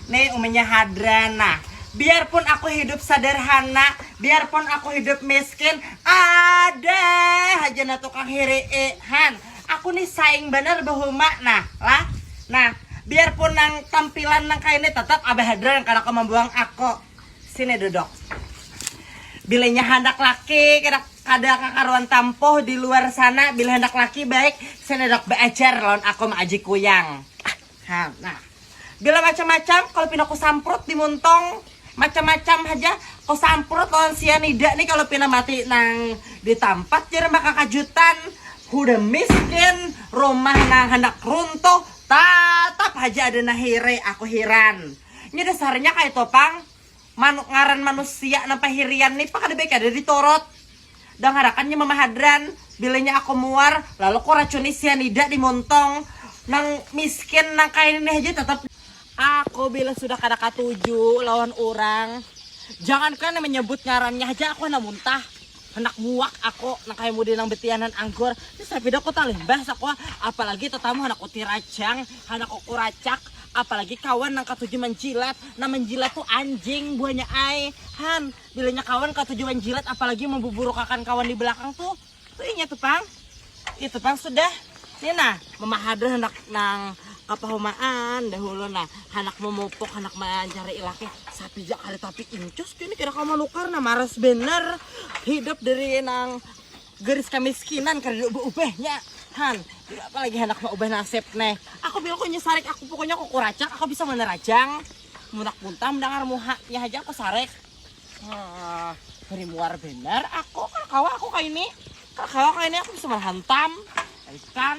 Nih uminya hadran nah Biarpun aku hidup sadarhana Biarpun aku hidup miskin Ada haja nah tukang hiri'i Han Aku nih saing banar bahuma nah Lah Nah Biarpun nang tampilan nang kaya ni Tetap Abah Hadran kada kawa mambuang aku Sini duduk Bila inya handak laki kada kada kakaruan tampuh di luar sana Bila handak laki baik Sini duduk baajar lawan aku maaji kuyang Ha nah. Bila macam-macam kalau pina ku samprut di muntong macam-macam haja ku samprut lawan sianida nih kalau pina mati nang di tampat jar mbak kakajutan hudah miskin rumah nang handak runtuh tatap haja ada nahire aku hiran nya dasarnya kaitu pang Manu, ngaran manusia nang pahirian ni pa kada baik kada diturut. Dangarakan nya mama hadran, bila nya aku muar, lalu ku racuni sianida di muntung. Nang miskin nang kaya ini haja tatap. Aku bila sudah kada katuju lawan urang, jangankan menyebut ngarannya haja aku handak muntah. Handak muak aku nang kaya mudi nang betianan anggur. Ni sapida ku talimbah asa ku, apalagi tatamu handak ku tiracang, handak ku kuracak, apalagi kawan nang katuju manjilat. Nang manjilat tu anjing buhanya ai. Han, bilanya kawan katuju manjilat apalagi mambuburukakan kawan di belakang tu, tu inya tu pang. Itu pang sudah ini nah memahadur hendak nang kapahumaan dahulu nah handak memupuk handak mencari ilaki sapi jak ada tapi incus ini kira kau menukar nah maras bener hidup dari nang garis kemiskinan karena ubah ubahnya han apalagi hendak ubah nasib nih aku bilang aku nyesarik aku pokoknya aku kuracak aku bisa menerajang munak buntam dengar muha ya aja aku sarek Beri muar benar aku, kalau kawa aku kayak ini, kalau kawa kayak ini aku bisa menghantam, ikan.